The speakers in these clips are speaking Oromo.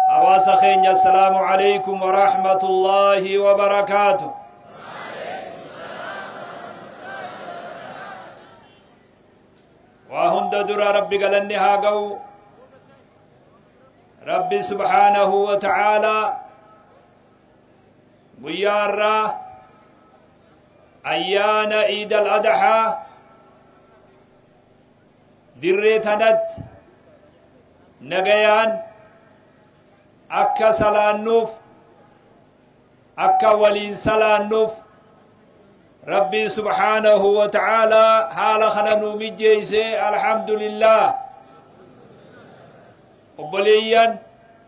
Hawaasa keenya Assalaamu Aleykum wa Rahmatullaahi wa Barakaatu. Waa hunda dura Rabbi galanni haa ga'u. Rabbi subhaanahu wa ta'aalaa guyyaa irraa ayyaana iidal adahaa dirree tanatti nagayaan akka salaannuuf akka waliin salaannuuf rabbiin subhaanahu wa ta'aalaa haala kana nuu mijjeeyse alhamdulillah obboleeyyan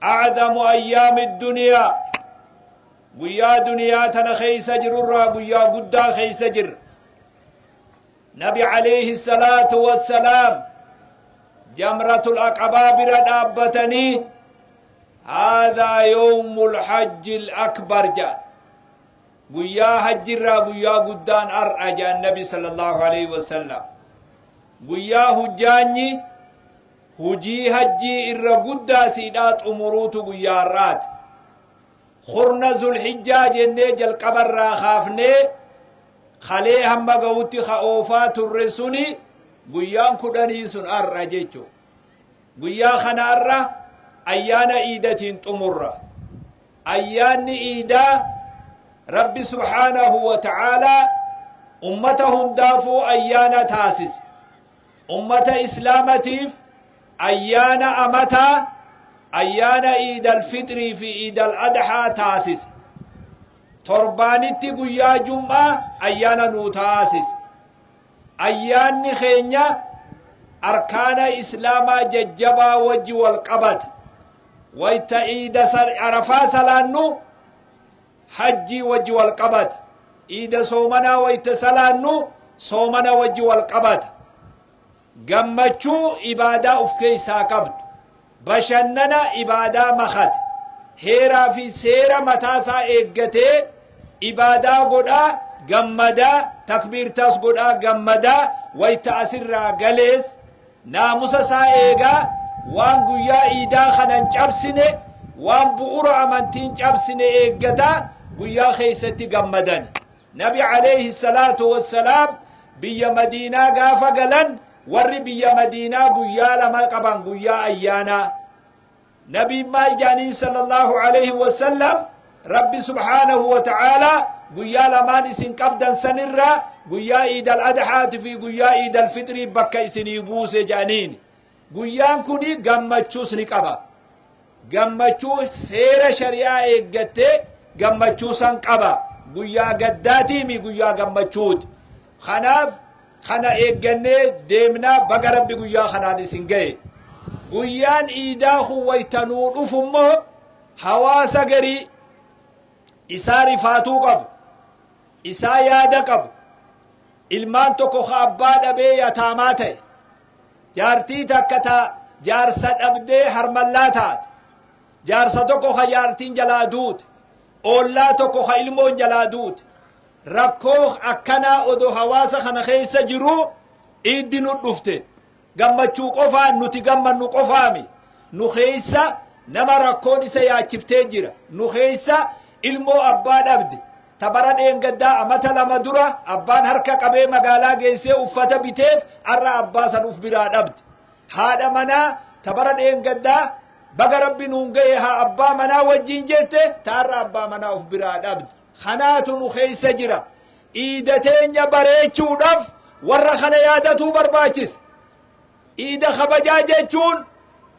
A'zamu ayyaami duniyaa Guyyaa duniyaa tana keessa jirurraa guyyaa guddaa keessa jirra. Nabi alayhi salaatu wassalaam jamratul aqabaa bira dhaabbatanii haadhaa yoomul hajjil akbar jedhan. Guyyaa hajjirraa guyyaa guddaan har'a jedhan Nabi sallallahu alayhi wasallam. Guyyaa hujjaanyi Hujii hajjii irra guddaa siidhaa xumuruutu guyyaa har'aati. Kurna zulhijjaa jennee jalqaba irraa kaafnee kalee hamma ga'utti ka oofaa turre suni guyyaan kudhanii sun har'a jechuudha. Guyyaa kana har'a ayyaana iidatiin xumurra. Ayyaanni iidaa Rabbi subhaanahu wa ta'aalaa ummata hundaafuu ayyaana taasise. Ummata Islaamatiif ayyaana amataa ayyaana Iidal Fixrii fi Iidal Adhaa taasise. Torbaanitti guyyaa Jum'aa ayyaana nuu taasise. Ayyaanni keenya arkaana Islaamaa jajjabaa wajji wal qabata. Wayta Iida Arafaa salaannu, Hajjii wajji wal qabata. Iida soomanaa wayta salaannu soomana wajji wal qabata. Gammachuu ibaadaa uf keessaa qabdu. Bashannana ibaadaa makate. Heeraa fi seera mataa isaa eeggatee ibaadaa godhaa gammadaa takbiirtaas godhaa gammadaa wayta asirraa galees Naamusa isaa eegaa, waan guyyaa iidaa kana hin cabsine, waan bu'ura amantii hin cabsine eeggata, guyyaa keessatti gammadani. Nabi aleyhi salaatu wassalaam biyya Madiinaa gaafa galan, warri biyya Madiinaa guyyaa lama qaban, guyyaa ayyaanaa. Nabiin maal jaaniin sallallahu alayhi wa sallam Rabbi subhaanahu wa ta'aala guyyaa lamaan isin qabdan sanirraa guyyaa iidal adhaati fi guyyaa iidal fixrii bakka isinii buuse jaaniin guyyaan kuni gammachuus ni qaba gammachuu seera shari'aa eeggattee gammachuu san qaba guyyaa gaddaatiimi guyyaa gammachuuti kanaaf Kana eeggannee deemna baga rabbi guyyaa kanaan isin gahe. Guyyaan iidaa kun wayta nuu dhufu immoo hawaasa garii isaa rifaatuu qabu, isaa yaada qabu, ilmaan tokko ka abbaa dhabee yataamaa ta'e, jaartii takka ta jaarsa dhabdee harmallaa taate, jaarsa tokko ka jaartiin jalaa duute, oollaa tokko ka ilmoon jalaa duute, Rakkoo akkanaa odoo hawaasa kana keessa jiruu Iiddi nu dhufte. Gammachuu qofaan nuti gammannu qofaami. Nu keessa nama rakkoon isa yaachiftee jira. Nu keessa ilmoo abbaa dhabde. Ta bara dheengaddaa amata lama dura abbaan harka qabee magaalaa geessee uffata biteef har'a abbaa san uf biraa dhabde. Haadha manaa ta bara dheengaddaa baga rabbi nuun ga'e haa abbaa manaa wajjiin jette ta har'a abbaa manaa uf biraa dhabde. kanaatu nu keessa jira. Iida teenya bareechuudhaaf warra kana yaadatuu barbaachisa. Iida kabajaa jechuun,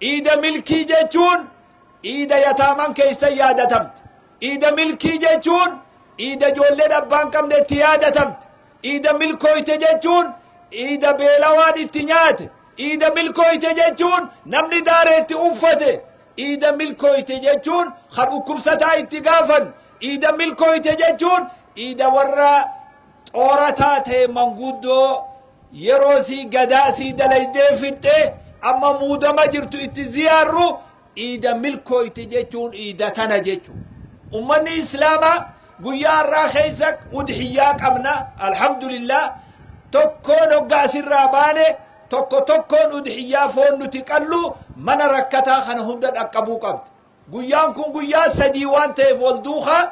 iida milkii jechuun, iida yataaman keessa yaadatamte. Iida milkii jechuun, iida ijoolleen abbaan qabne itti yaadatamte. Iida milkooyte jechuun, iida beelawaan itti nyaate. Iida milkooyte jechuun, namni daaree itti uffate. Iida milkooyte jechuun ka dhukkubsataa itti gaafan. Iida milkooyte jechuun iida warra xoorataa ta'e manguddoo yeroo sii gadaa sii dalaydee fixxe amma muudama jirtu itti ziyaarru iida milkooyte jechuun iida tana jechu. Ummanni Islaamaa guyyaa har'aa keessa udhiyyaa qabna alhamdulillah tokkoon hoggaa asirraa baane Tokko tokkoon udhiyyaa foon nuti qallu mana rakkataa kana hunda dhaqqabuu qabdi. Guyyaan kun guyyaa sadii waan ta'eef wal duukaa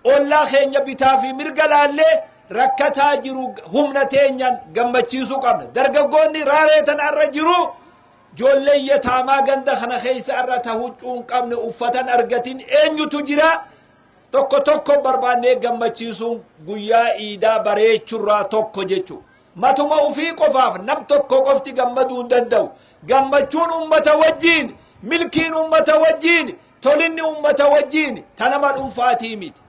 ollaa keenya bitaa fi mirga laallee rakkataa jiru humna teenyaan gammachiisuu qabna. Dargaggoonni raaree tana har'a jiru ijoolleen yataamaa ganda kana keessa har'a ta huccuu hin qabne uffata hin argatin eenyutu jira? Tokko tokko barbaannee gammachiisuun guyyaa iidaa bareechurraa tokko jechuudha. Matuma ufii qofaaf nam tokko qofti gammaduu hin danda'u. Gammachuun ummata wajjiin, milkiin ummata wajjiin, tolinni ummata wajjiin ta nama dhunfaatii miti.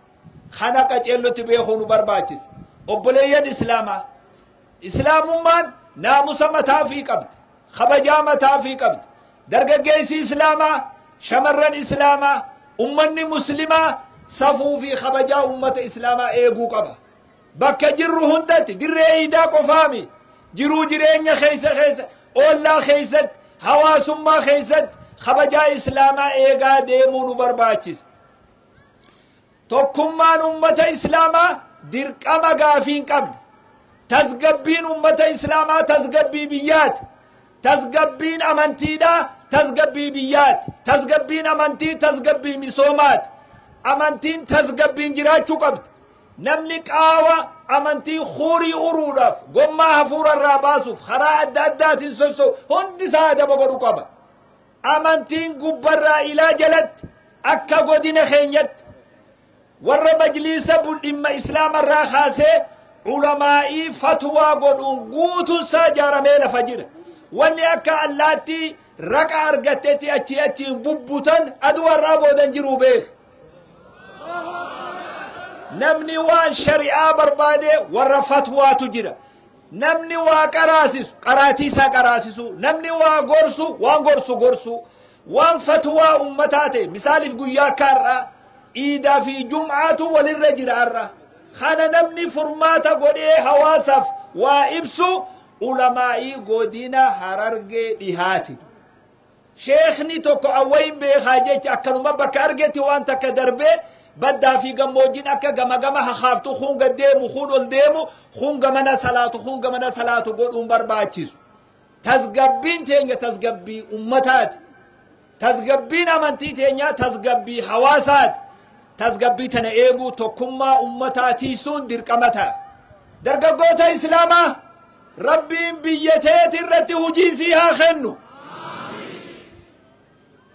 Kana qaceellotti beekuu nu barbaachisa. Obboleeyyan Islaamaa! Islaamummaan naamusa mataa ufii qabdi. Kabajaa mataa ufii qabdi. Dargaggeessi Islaamaa, shamarran Islaamaa, ummanni Muslimaa safuu fi kabajaa ummata Islaamaa eeguu qaba. Bakka jirru hundatti, dirree iidaa qofaami, jiruu jireenya keessa keessa, oollaa keessatti, hawaasummaa keessatti kabajaa Islaamaa eegaa deemuu nu barbaachisa. Tokkummaan ummata Islaamaa dirqama gaafii hin qabne. Tasgabbiin ummata Islaamaa tasgabbii biyyaati. Tasgabbiin amantiidhaa tasgabbii biyyaati. Tasgabbiin amantii tasgabbii misoomaati. Amantiin tasgabbiin jiraachuu qabdi. Namni qaawa amantii huurii uruudhaaf, gommaa hafuura irraa baasuuf karaa adda addaatiin sosso'u hundi isaa adaba godhu qaba. Amantiin gubbarraa ilaa jalatti akka godina keenyatti warra majliisa bu- dhimma islaamarraa kaasee ulamaa'ii fatwaa godhuun guutuun isaa ijaaramee lafa jira. Wanni akka allaattii raqa argattetti achii achiin bubbutan aduu har'aa boodan jiruu beeka. namni waan shari'aa barbaade warra fatwaatu jira namni waa qaraasisu qaraatii isaa qaraasisu namni waa gorsu waan gorsu gorsu waan fatwaa ummataa ta'e misaaliif guyyaa akka har'aa iidaa fi jum'aatu walirra jira har'a kana namni furmaata godhee hawaasaaf waa ibsu ulamaa'ii godina harargee dhihaati Sheekhni tokko an wayin beekaa jecha akkanuma bakka argetti waan takka darbee baddaa fi gammoojjiin akka gama gama hakaaftu kun gad deemu kun ol deemu kun gamana salaatu kun gamana salaatu godhuun barbaachisu. Tasgabbiin teenya tasgabbii ummataati. Tasgabbiin amantii teenyaa tasgabbii hawaasaati. Tasgabbii tana eeguu tokkummaa ummataa tiisuun dirqama ta'a. Dargaggoota Islaamaa Rabbiin biyya teeti irratti hujii sii haa kennu.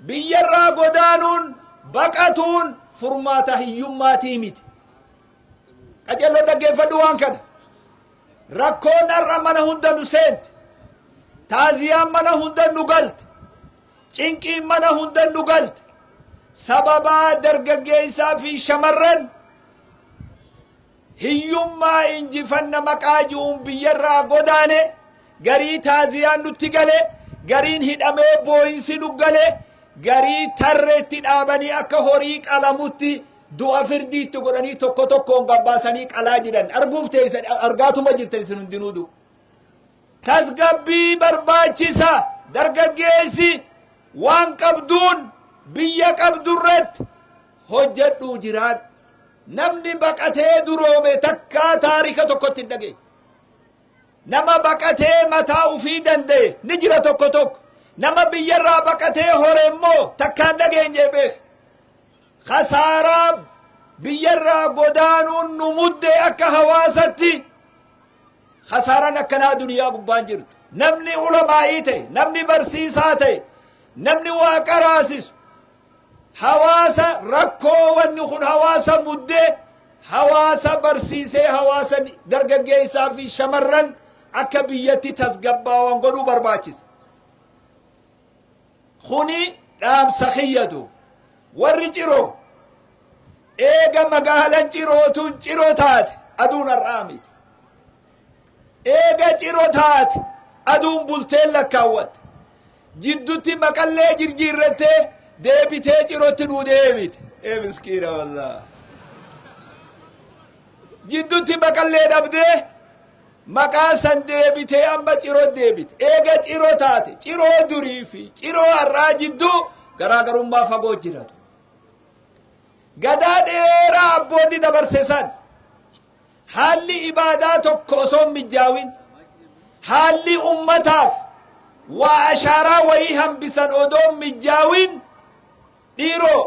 Biyyarraa godaanuun baqatuun furmaata hiyyummaatii miti. Qajeeloo dhaggeeffadhu waan kana. Rakkoon har'a mana hunda nu seente. Taaziyaan mana hunda nu galte. Cinqiin mana hunda nu galte. Sababaa dargaggeessaa fi shamarran Hiyyummaa injifanna maqaa ji'uun biyyarraa godaane, garii taaziyaan nutti gale, gariin hidhamee booyinsi nu gale, garii tarreetti dhaabanii akka horii qalamutti du'a firdii itti godhanii tokko tokkoon gabbaasanii qalaa jiran arguuf teessan argaatuma jirtan isin hundinuu du. Tasgabbii barbaachisa dargaggeessi waan qabduun biyya qabdurratti hojjadhuu jiraadhu. Namni baqatee duroome takkaa taarika tokkotti hin dhageenye. Nama baqatee mataa ufii danda'e ni jira tokko tokko. Nama biyyarraa baqatee hore immoo takkaa hin dhageenye beek. Kasaaraa biyyarraa godaanuun nu muddee akka hawaasatti kasaaraan akkanaa duniyaa gubbaan jirtu. Namni ulamaa'ii ta'e, namni barsiisaa ta'e, namni waa qaraasisu, Hawaasa rakkoo wanni kun hawaasa mudde hawaasa barsiisee hawaasa dargaggeessaa fi shamarran akka biyyatti tasgabbaawan godhuu barbaachisa. Kuni dhaamsa kiyyatu warri ciroo eega magaalan cirootu ciroo taate aduun har'aa miti. Eega ciro taate aduun bulteen lakkaawwatte. Jiddutti maqallee jirjiirrattee deebitee cirotti nuu deebite. Ee miskiina wallah. Jiddutti maqallee dhabdee maqaa san deebitee amma ciro deebite. Eega ciro taate ciroo durii fi ciroo har'aa jidduu garaagarummaa fagoo jiratu. Gadaa dheeraa abboonni dabarse san haalli ibaadaa tokko osoo hin mijjaawin haalli ummataaf waa ashaaraa wayii hambisan odoo hin mijjaawin dhiiroo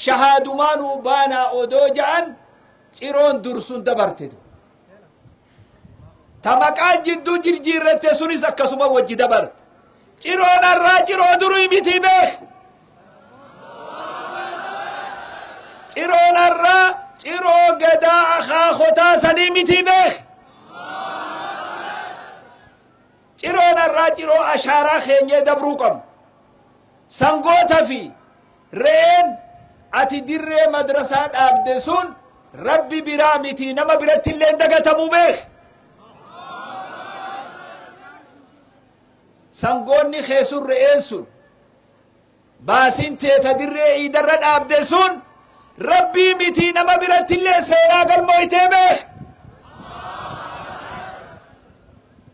shahaadumaanuu baanaa odoo ja'an ciroon dursun dabarte tu tamaqaan jidduu jirjiirratte sunis akkasuma wajji dabarte ciroon har'aa ciroo durii miti beek Ciroon har'aa ciroo gadaa akaakotaa sanii mitii beek. Ciroon har'aa ciroo ashaaraa keenyee dabruu qabnu. Sangoota fi re'een ati dirree madrasaa dhaabde sun rabbi biraa miti nama biratti illee hin dagatamu beek. Sangoonni kee sun re'een sun Baasin tee ta dirree iidarra dhaabde sun Rabbii mitii nama birattillee seenaa galmooytee beek.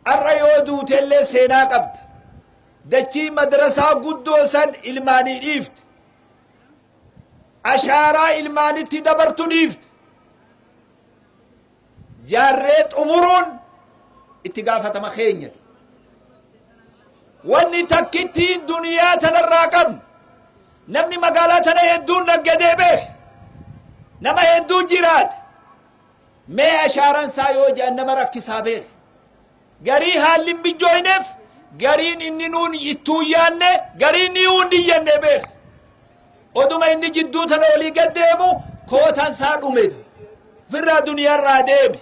Har'a yoo duutellee seenaa qabda. Dachii madrasaa guddoo san ilmaanii dhiifte. Ashaaraa ilmaanitti dabartu dhiifte. jaarree xumuruun itti gaafatama keenya. Wanni takkittiin duniyaa tanarraa qabnu namni magaalaa tana hedduun naggadee beeke nama hedduu jiraate mee ashaaran isaa yoo jedhan nama rakkisaa beeke Garii haalli hin mijjooyneef gariin inni nuun ittuu hin yaanne garii niyuu hin dhiyyanne beek. Oduma inni jidduu tana olii gad deemu kootan saa dhume tu. Firraa duniyarraa deeme.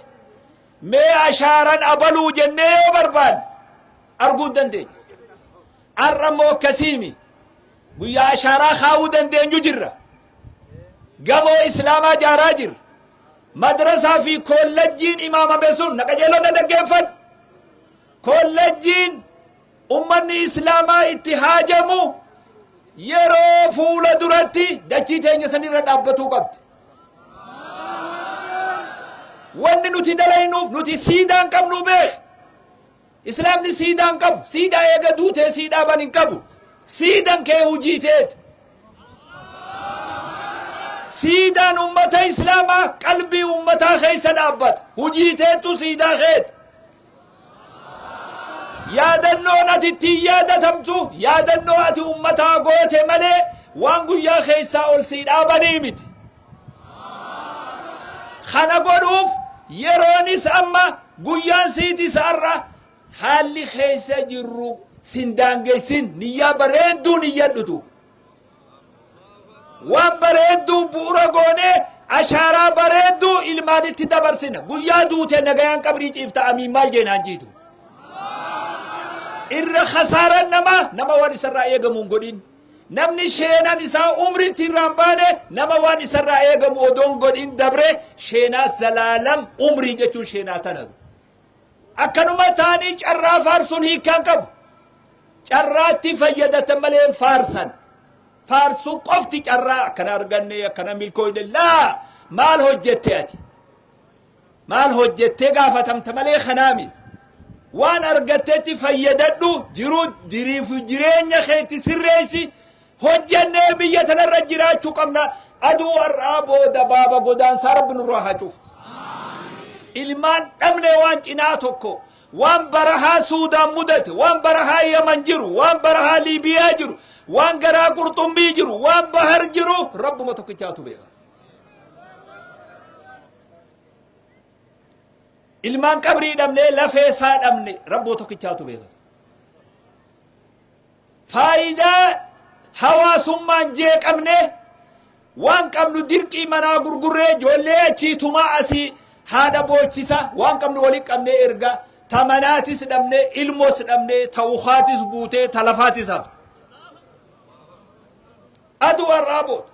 Mee ashaaran abaluu jennee yoo barbaanne arguu hin dandeenye. Har'a immoo akkasiimi. Guyyaa ashaaraa kaa'uu dandeenyu jirra. Gamoo islaamaa jaaraa jirra. Madrasaa fi Koollejjiin imaamame sun na qajeeloo na dhaggeeffadhu. Koollejjiin ummanni Islaamaa itti haajamu yeroo fuula duratti dachii teenya sanirra dhaabbatuu qabdi. Wanni nuti dalaynuuf nuti siidaan qabnu beek. Islaamni siidaa hin qabu. Siidaa eega duutee sii dhaaban hin qabu. Siidan kee hujii teeti. Siidaan ummata Islaamaa qalbii ummataa keessa dhaabbata. Hujii teettu siidaa keeti. Yaadannoon ati ittiin yaadatamtu yaadannoo ati ummataa goote malee waan guyyaa keessaa ol sii dhaabanii miti. Kana godhuuf yeroonis amma guyyaan siiti saarra haalli keessa jirru sin daangessin niyyaa bareedduu niyyadhutu. Waan bareedduu bu'ura goonee ashaaraa bareedduu ilmaanitti dabarsina. Guyyaa duute nagayaan qabrii ciifta amiin maal jeenaan jiitu. Irra kasaaran nama nama waan isarraa eegamuun godhin. Namni sheenaan isaa umriitti irraa hin baane nama waan isarraa eegamu odoo hin godhin dabre sheenaa zalaalam umrii jechuun sheenaa tana. Akkanuma taanii carraa faarsuun hiikaan qabu. Carraatti fayyadatan malee hin faarsan. Faarsuu qofti carraa akkana arganne akkana milkooyne laa maal hojjette ati? Maal hojjettee gaafatamta malee kanaami. Waan argattetti fayyadadhu, jiruu jiriif jireenya keetti sirreessi. Hojjennee biyya tanarra jiraachuu qabna. Aduu har'aa booda baaba godaansaa rabbi nurraa haa cufu. Ilmaan dhabne waan cinaa tokko waan barahaa Suudaan mudate, waan barahaa Yaman jiru, waan barahaa Liibiyaa jiru, waan garaa qurxummii jiru, waan bahar jiru rabbuma tokkichaatu beeka. ilmaan qabrii dhabnee lafee isaa dhabne rabboo tokkichaatu beeka faayidaa hawaasummaan jeeqamne waan qabnu dirqii manaa gurgurree ijoollee achii tumaa asii haadha boochisa waan qabnu wali qabnee erga ta manaatis dhabne ilmos dhabne ta ukaatis buutee ta lafaatis hafte aduu har'aa booda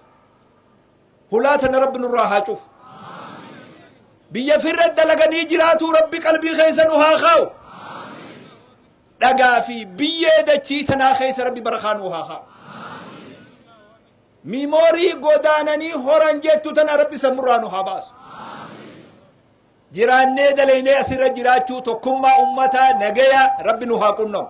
Hulaa tana rabbi nurraa haa cufu. Biyya firra dalaganii jiraatuu rabbi qalbii keessa nu haa kaa'u. Dhagaa fi biyyee dachii tanaa keessa rabbi barakaa nu haa kaa'u. Miimoorii godaananii horan jettu tana rabbi sammurraa nu haa baasu. Jiraannee dalaynee asirra jiraachuu tokkummaa ummataa nagaya rabbi nu haa qunnamu.